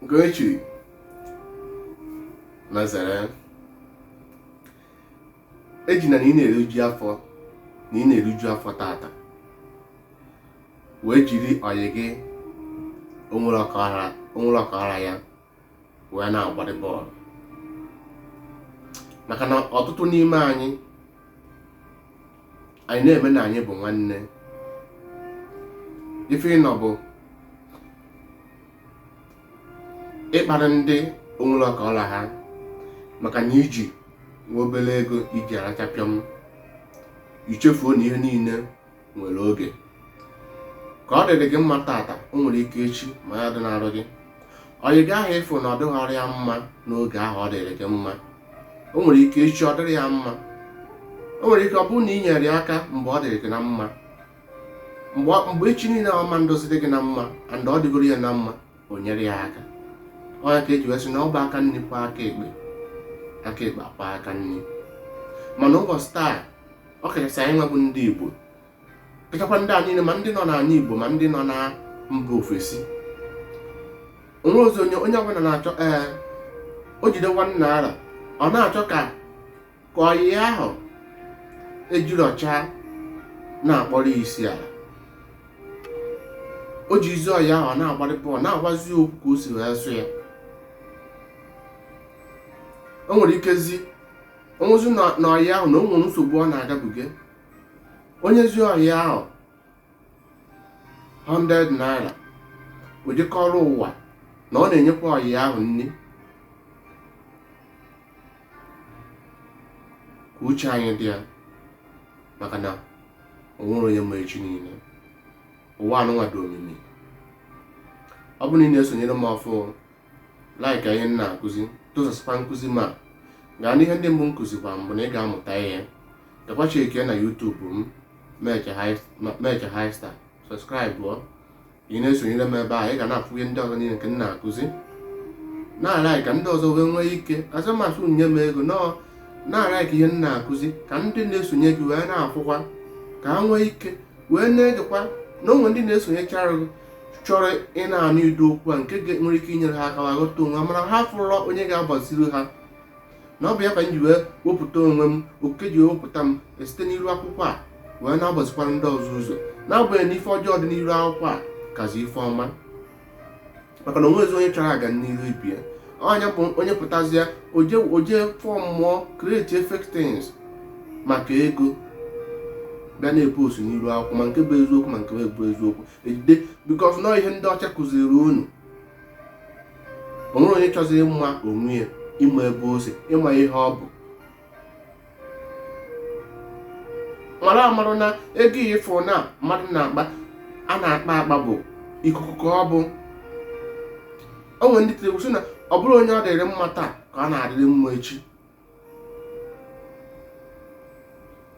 nke o chiri mazara ejina na ị na-eriju afọ na ị na-eriju afọ tata wee jiri ọyị gị o nwere ọka ọ ra ya wee na-agbarị bọọlụ maka na ọtụtụ n'ime anyị anyị na-eme na anyị bụ nwanne ife ị nọ bụ ịkparị ndị o nwere ọka ọ ra ha maka na i ji nwa obere ego i ji arachapịọm i chefuo na ihe niile nwere oge ka ọ dịrị gị mma tata o nwere ike echi ma ya dị n'arụ gị ọyị gị ahụ ị fụ na ọ dịghọrọ ya mma n'oge ahụ ọ dịrị gị mma o nwere ike echi ọ dịrị ya mma o nwere ike ọ bụrụ na i nyere ya aka mgbe ọ dịrị gị na mma mgbe echi niile ọma ndozi dị gị na mma and ọ dịgoro ya na mma o nyere ya aka ọ nya ka e ji wee sị na ọ bụ aka nri kwọọ aka ekpe aka ekpe akwọọ aka nri mana ụbọchị taa ọ kachasị anyị nwa bụ ndị Igbo kachakwa ndị a niile ma ndị nọ n'ala Igbo ma ndị nọ na mba ofesi o nwerọzi onye onye ọbụla na-achọ ee eh, o jide 1 naira ọ na-achọ ka ka ọyị ya ahụ ejiri ọcha na-akpọrọ isi ala o jizi ọyị ya ahụ ọ na-agbarị bọọlụ na-agwazi ya okwu ka o si wee sọ ya o nwere ikezi o nwezi na ọyị ya ahụ na o nwere nsogbu ọ na-agabiga o nyezi ọyị ya ahụ 100 naira o je kọọrọ ụwa na ọ na-enyekwa ọyị ya ahụ nri ka uche anyị dị ya maka na o nwerọ onye ma echi niile ụwa anụnwa dị omimi ọ bụrụ na ị na-esonyere m ọfụ like ihe m na-akụzi tụsasịkwa nkụzi ma gaa n'ihe ndị mbụ m kụzikwa mbụ na ị ga-amụta ihe gakwa check na YouTube m Meche High Star subscribe ọ ị na-esonyere m ebe a ị ga na-afụ ihe ndị ọzọ niile nke m na-akụzi na-alike ka ndị ọzọ wee nwee ike azụmasụ nye m ego no na-alike ihe m na-akụzi ka ndị na-esonye gị wee na-afụkwa ka ha nwee ike wee na-egekwa na o nwe ndị na-esonyechara gị chọrọ ịna-anụ ụdị okwu a nke nwere ike inyere ha aka ma ghọta onwe ha mana ha afụrọla onye ga-agbaziri ha na ọ bụ ya ka m ji wee wepụta onwe m oke ji wepụta m site n'iru akwụkwọ a wee na-agbazikwara ndị ọzọ ụzọ n'agbanyeghị na ife ọjọọ dị n'iru akwụkwọ a kazi ife ọma maka na o nwezi onye chọrọ ọganiru ibe ya onye bụ onye pụtazie o je form ọ create fake things maka ego bịa na-epost n'iru akwụkwọ ma nke bụ eziokwu ma nke bụ eziokwu ejide because na ọ ihe ndị ọcha kụziri unu o nwerọ onye chọziri ịma onwe ya ịma ebe o si ịma ihe ọ bụ mara amara na ego ị fụ na mmadụ na-akpa a na-akpa akpa bụ ikuku ka ọ bụ o nwere ndị tiri sị na ọ bụrụ onye ọ dịrị mma taa ka ọ na-adịrị mma echi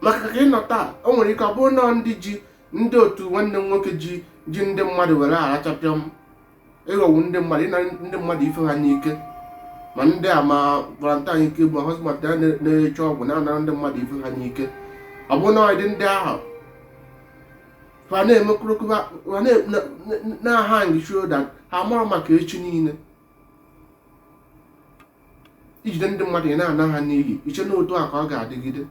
maka ka ị nọ taa o nwere ike ọ bụrụ na ndị ji ndị otu nwanne m nwoke ji ji ndị mmadụ were aracha pịọm ịghọgbu ndị mmadụ ịna ndị mmadụ ife ha n'ike ma ndị a ma valentine ike ma hosmat a na-eche ọgwụ na-anara ndị mmadụ ife ha n'ike ọ bụ na ọdị ndị ahụ ha na-emekwurụkwa na-ahang shoulder ha amarọ maka echi niile i jide ndị mmadụ ị na-ana ha n'iyi i chee na otu a ka ọ ga-adịgide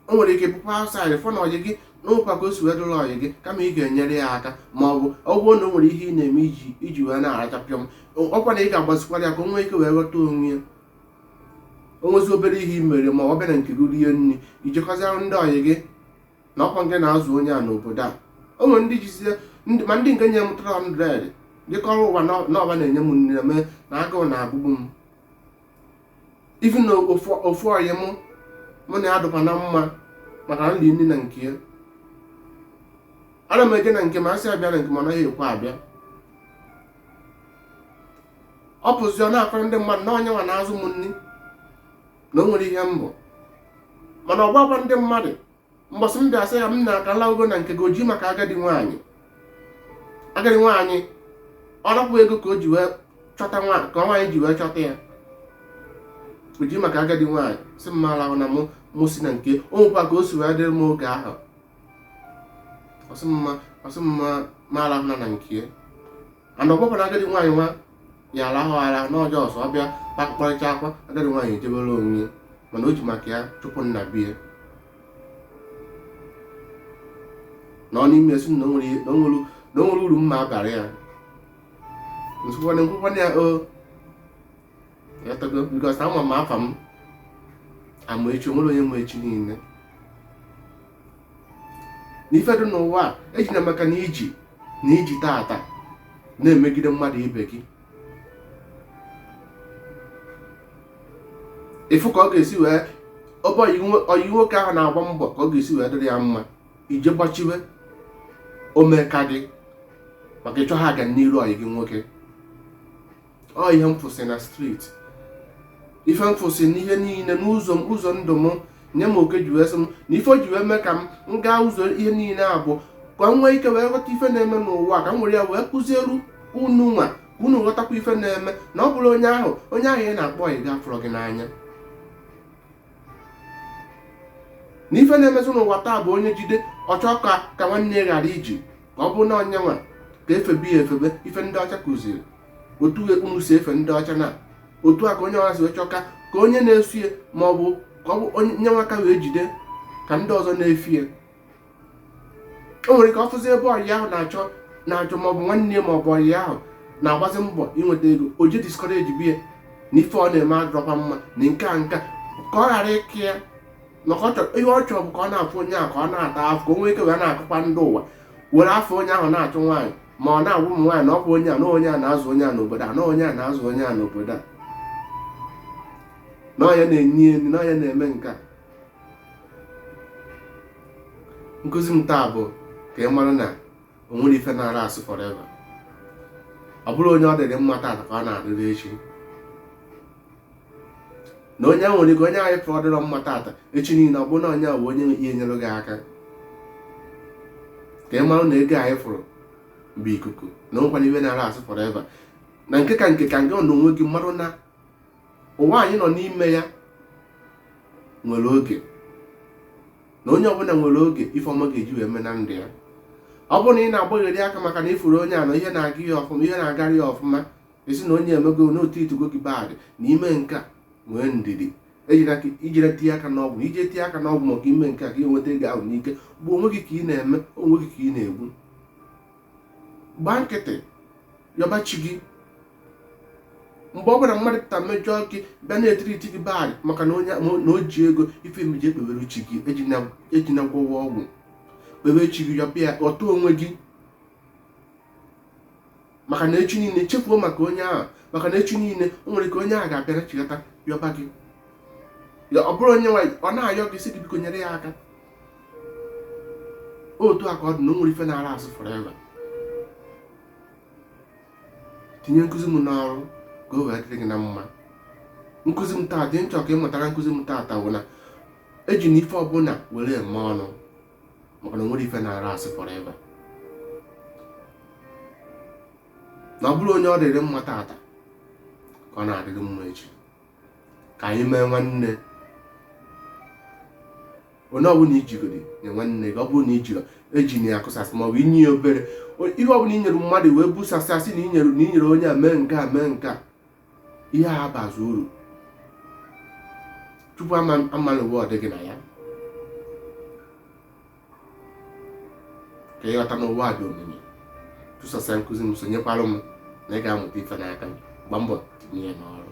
o nwere ike ị pụ outside fụ na ọyị gị nwekwa ka o si wee dụrụ ọyị gị kama ị ga-enyere ya aka ma ọ bụ ọ bụrụ na o nwere ihe ị na-eme iji iji wee na-aracha pịọm ọ kwa na ị ga-agbazikwara ya ka o nwee ike wee ghọta onwe ya o nwezi obere ihe i mere ma ọ bịa na nke gị rie nri i je kọziara ndị ọyị gị na ọ kwa ngị na-azụ onye a n'obodo a o nwere ndị jizie ndị- ma ndị nke nye m 300 je kọrọ ụwa na ọ ba na-enye m nri na mee na agụụ na-agụgbu m even na ofu ofu ọyị mụ mụ na ya dụkwa na mma maka na m na-eri nri na nke ya ana m eje na nke ma a sị ya bịa na nke m ọ naghị ekwe abịa ọ pụzi ọ na-akọrọ ndị mmadụ na ọ ya nwa na-azụ m nri na o nwerọ ihe m bụ mana ọ gwakwa ndị mmadụ mbọsị m bịa sị ya m ka lahụ na nke gị o ji maka agadi nwaanyị agadi nwaanyị ọ napụ ego ka o ji wee chọta nwa ka nwaanyị ji wee chọta ya o ji maka agadi nwaanyị sị m alahụna mụ mụ si na nke o nwekwa ka o si wee dịrị m oge ahụ ọ sị m ọ sị m alahụna na nke and ọ bụrọ na agadi nwaanyị nwa ya alahụ ala n'ọjọ ọsọ ọ bịa kpakọrịta akwa agadi nwaanyị ejebere onwe ya mana o ji maka ya chụpụ m na be ya na ọ na-eme sị na o nwerọ uru m na-abara ya nsụkwana nkwụkwana ya o yatago because ama m afa m amaechi o nwerọ onye ma echi niile na ife dị n'ụwa a ejina maka na i ji na i ji taata na-emegide mmadụ ibe gị ị fụ ka ọ ga-esi wee ebe ọyị nwoke ahụ na-agba mbọ ka ọ ga-esi wee dịrị ya mma i je gbachiwe omeka gị maka ị chọhọ ọganiru ọyị gị nwoke ọ ihe m fụsị na street ife m fụsị n'ihe niile n'ụzọ m ụzọ ndụ m nye m ike ji wee sị m na ife o ji wee mee ka m m gaa ụzọ ihe niile a bụ ka m nwee ike wee ghọta ife na-eme n'ụwa ka m were ya wee kụzielu unu nwa ka unu ghọtakwa ife na-eme na ọ bụrụ onye ahụ onye ahụ ị na-akpọ ọyị gị afụrọ gị n'anya na ife na-emezi n'ụwa taa bụ onye jide ọ chọọ ka ka nwanne ya ghara iji ka ọ bụrụ na onye nwa ka e febe ya e febe ife ndị ọcha kụziri otu unu si efe ndị ọcha na otu a ka onye ọha si wee chọka ka onye na-eso ya ma ọ bụ ka ọ bụ onye nwa ka wee jide ka ndị ọzọ na-efe ya o nwere ka ọ fụzi ebe ọyị ahụ na-achọ na-achọ ma ọ bụ nwanne ya ma ọ bụ ọyị ahụ na-agbazi mbọ inweta ego o je discouragebe ya na ife ọ na-eme adịrọkwa mma na nke a nka ka ọ ghara ịka ya maka ọ chọrọ ihe ọ chọrọ bụ ka ọ na-afụ onye ahụ ka ọ na-ata afụ ka o nwee ike wee na-akọkwa ndị ụwa were afụ onye ahụ na-achụ nwaanyị ma ọ na-agwa ụmụ nwaanyị na ọ bụ onye a na onye a na-azụ onye a n'obodo a na onye a na-azụ onye a n'obodo a na onye a na-enye nni na onye a na-eme nke a nkụzi m taa bụ ka ị mara na o nwerọ ife na-alast forever ọ bụrọ onye ọ dịrị mma taata ka ọ na-adịrị echi na onye nwere ike onye a ị fụ ọ dịrọ mma taata echi niile ọ bụrụ na onye a bụ onye ya-enyere gị aka ka ị mara na ego anyị fụrụ bụ ikuku na o nwekwarọ ife na-alast forever na nke ka nke ka nke na onwe gị marụ na ụwa anyị nọ n'ime ya nwere oge na onye ọbụla nwere oge ife ọma ga-eji wee mee na ndụ ya ọ bụrụ na ị na-agbagheri aka maka na ị fụrụ onye a na ihe na-aga ya ọfụma ihe na-agara ya ọfụma ị sị na onye a emego na ọ treatigo gị bad na i mee nke a nwee ndidi i jere tinye aka n'ọgwụ i je tinye aka n'ọgwụ maka ime nke a ka ị nweta ego ahụ n'ike bụ onwe gị ka ị na-eme onwe gị ka ị na-egbu gbaa nkịtị yọba chi gị mgbe ọ bụla mmadụ pụta mejọọ gị bịa na-etreat gị bad maka na onye na o ji ego ife emeji ekpewere chi gị ejena gwọwa ọgwụ kpewe chi gị yọba ya otu onwe gị maka na echi niile chefuo maka onye ahụ maka na echi niile o nwere ike onye ahụ ga-abịara chigata yọba gị ọ bụrụ onye nwaanyị ọ na-ayọ gị sị gị biko nyere ya aka otu a ka ọ dị na o nwerọ ife na-alast forever tinye nkụzi m n'ọrụ ka o wee dịrị gị na mma nkụzi m taa ife m chọ ka ị mụta na nkụzi m taata bụ na ejina ife ọbụla were eme ọnụ maka na o nwerọ ife na-alast forever na ọ bụrọ onye ọ dịrị mma taata ka ọ na-adịrị mma echi ka anyị mee nwanne onye ọbụla i jigodi nye nwanne gị ọ bụrụ na i ji ejina ya akụsasị ma ọ bụ i nye ya obere ihe ọbụla i nyere mmadụ wee busasị asị na i nyere na i nyere onye a mee nke a mee nke a ihe a abazi uru tupu a malụ ụwa ọ dị gị na ya ka ị ghọta na ụwa dị omimi tụsasịa nkụzi m sonyekwara m na ị ga-amụta ife n'aka m gbaa mbọ tinye ya n'ọrụ